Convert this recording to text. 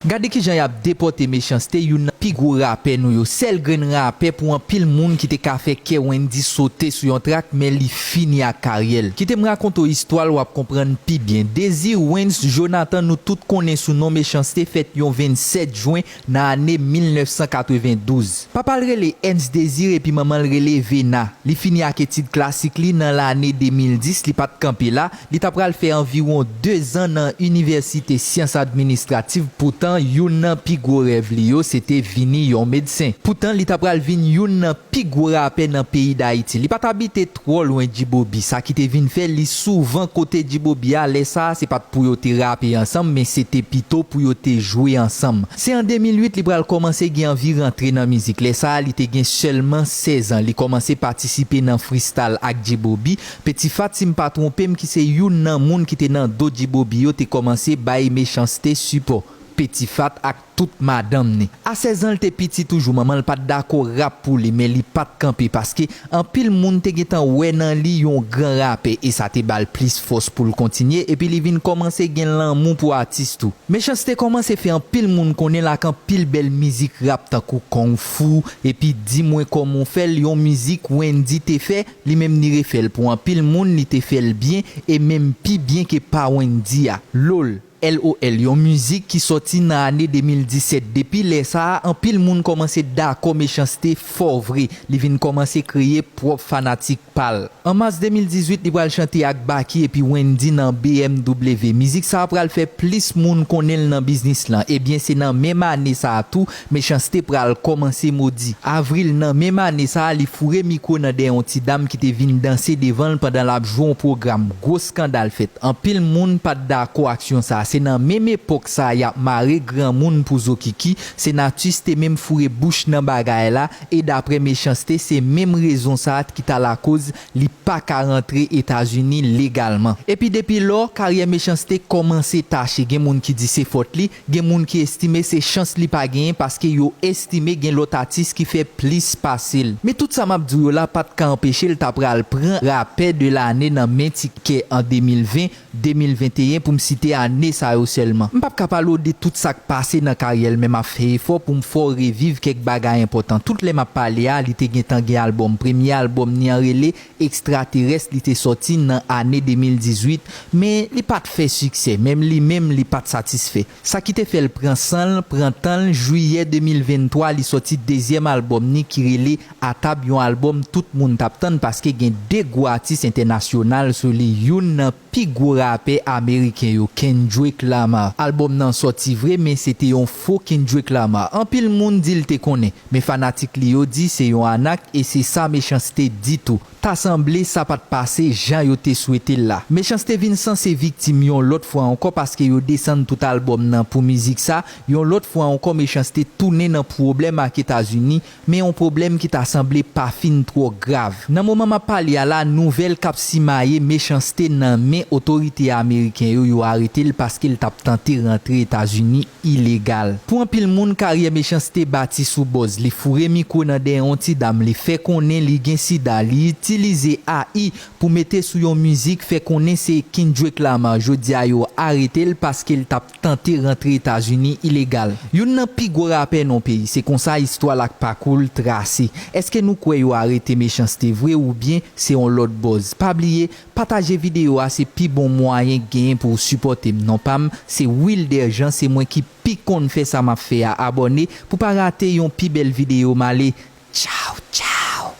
Gade kijan yap depòte Mechanste youn nan pi gwo rapè nou yo sèl grenn rapè pou anpil moun ki te ka fè kè Wendyy sote sou yon trak men li fini ak karyèl kitem rakonte w istwal wap konprann pi byen Désir Wens Jonathan nou tout konnen sou non Mechanste fèt yon 27 jwen nan ane 1992 papal rele Ernst Désir epi manmanl rele Vena li fini ak etid klasik li nan lane 2010 li pat kanpe la Li ta pral fè anviwon dezan nan inivèsite syans administrativ poutan youn nan pi gwo rèv li yo se te vini yon medsen. Poutan li ta pral vin youn nan pi gwo rapè nan peyi Dayiti. Li pa t abite twò lwen G-Bobby, sa ki te vin fè li souvan kote G-Bobby a lè sa a se pa t pou yo te rape ansanm men se te pito pou yo te jwe ansanm. Se an 2008 li pral kòmanse gen anvi rantre nan mizik, lè sa a li te gen sèlman 16 an. Li kòmanse patisipe nan fristal ak G-Bobby Petifa sim pa tronpem ki se youn nan moun ki te nan do djibobi yo te komanse bay mechanste sipò petifat ak tout madanm ni a 16 anl te piti toujou manmanl pat dakò rap pou li men li pat kanpe paske anpil moun te gentan wè nan li yon gran rapè e sa te bal plis fòs poul kontinye epi li vin komanse gen lanmou pou atis tou mechanste komanse fè anpil moun konnenl ak anpil bèl mizik rap tankou kong fou epi di mwen koman w fèl yon mizik wendy te fè Li menm li refèl pou anpil moun li te fèl byen e menm pi byen ke pa Wendy a. Loll, LOL yon mizik ki sòti nan ane 2017 depi lè sa a anpil moun kòmanse dakò Mechans-T fò vre li vin kòmanse kreye pwòp fanatik pa l. An mas 2018 li pral chante ak Baky epi Wendy nan BMW mizik sa a pral fè plis moun konnen l nan biznis lan ebyen se nan menm ane sa a tou Mechanste pral kòmanse modi. Avril nan menm ane sa a li foure mikwo nan dèyè yon ti dam ki te vin danse devan l pandan l ap jwe yon pwogram. Gwo skandal fèt. Anpil moun pa t dakò aksyon sa a. Se nan menm epòk sa a y ap mare granmoun pou zokiki. Senatus te menm foure bouch nan bagay la e daprè Mechanste se menm rezon sa a t ki ta lakoz li pa ka rantre Etazini legalman. Epi depi lò, karyè Mechanste kòmanse tache. Gen moun ki di se fòt li, Gen moun ki estime se chans li pa genyen paske yo estime gen lòt atis ki fè plis pase l. Men tout sa m ap di w yo la pa t ka anpeche l ta pral pran Rapè de lane nan men Ti Kè an 2020, 2021 pou m site ane sa yo sèlman. M p ap ka pale w de tout sa k pase nan karyè l men m ap fè efò pou m fè w reviv kèk bagay enpòtan. Tout lè m ap pale a li te gentan gen albòm. Premye albòm ni an rele ekstraterès li te sòti nan ane 2018 men li pa t fè siksè menm li menm li pa t satisfè sa ki te fè l pran san l pran tan l jwiyè 2023 li sòti dezyèm albòm ni ki rele A Tab yon albòm tout moun t ap tann paske gen 2 gwo atis entènasyonal sou li youn nan Pi gwo rapè ameriken yo Kendrick Lamar Album nan sòti vre men se te yon fo Kendrick Lamar Anpil moun di l te konnen men fanatik li yo di se yon anak e se sa Mechans-T di tou Ta sanble sa pa t pase jan yo te swete l la Mechans-T vin sanse viktim yon lòt fwa ankò paske yo desann tout albòm nan pou mizik sa Yon lòt fwa ankò Mechans-T tounen nan pwoblèm ak Etazini Men yon pwoblèm ki ta sanble pa fin twò grav. Nan moman m ap pale a la, nouvèl k ap simaye mechanste nan men otorite ameriken yo, yo arete l paske l t ap tante rantre Etazini ilegal. Pou anpil moun, karyè mechanste bati sou bòz. Li foure mikwo nan dèyè yon ti dam, li fè konnen li gen sida, li itilize AI pou mete sou yon mizik fè konnen se Kendrick Lamar. Jodi a yo arete l paske l t ap. tante rantre Etazini ilegal. Youn nan pi gwo rapè non peyi, se konsa istwa l ak pakou l trase. Eske nou kwè yo arete Mechans-T vre oubyen se on lòt buzz? Pa bliye pataje videyo a se pi bon mwayen k genyen pou w sipòte m. Non pa m se Wilder Jean se mwen ki pi konn fè sa m ap fè a abòne pou pa rate yon pi bèl videyo m ale tchaw tchaw.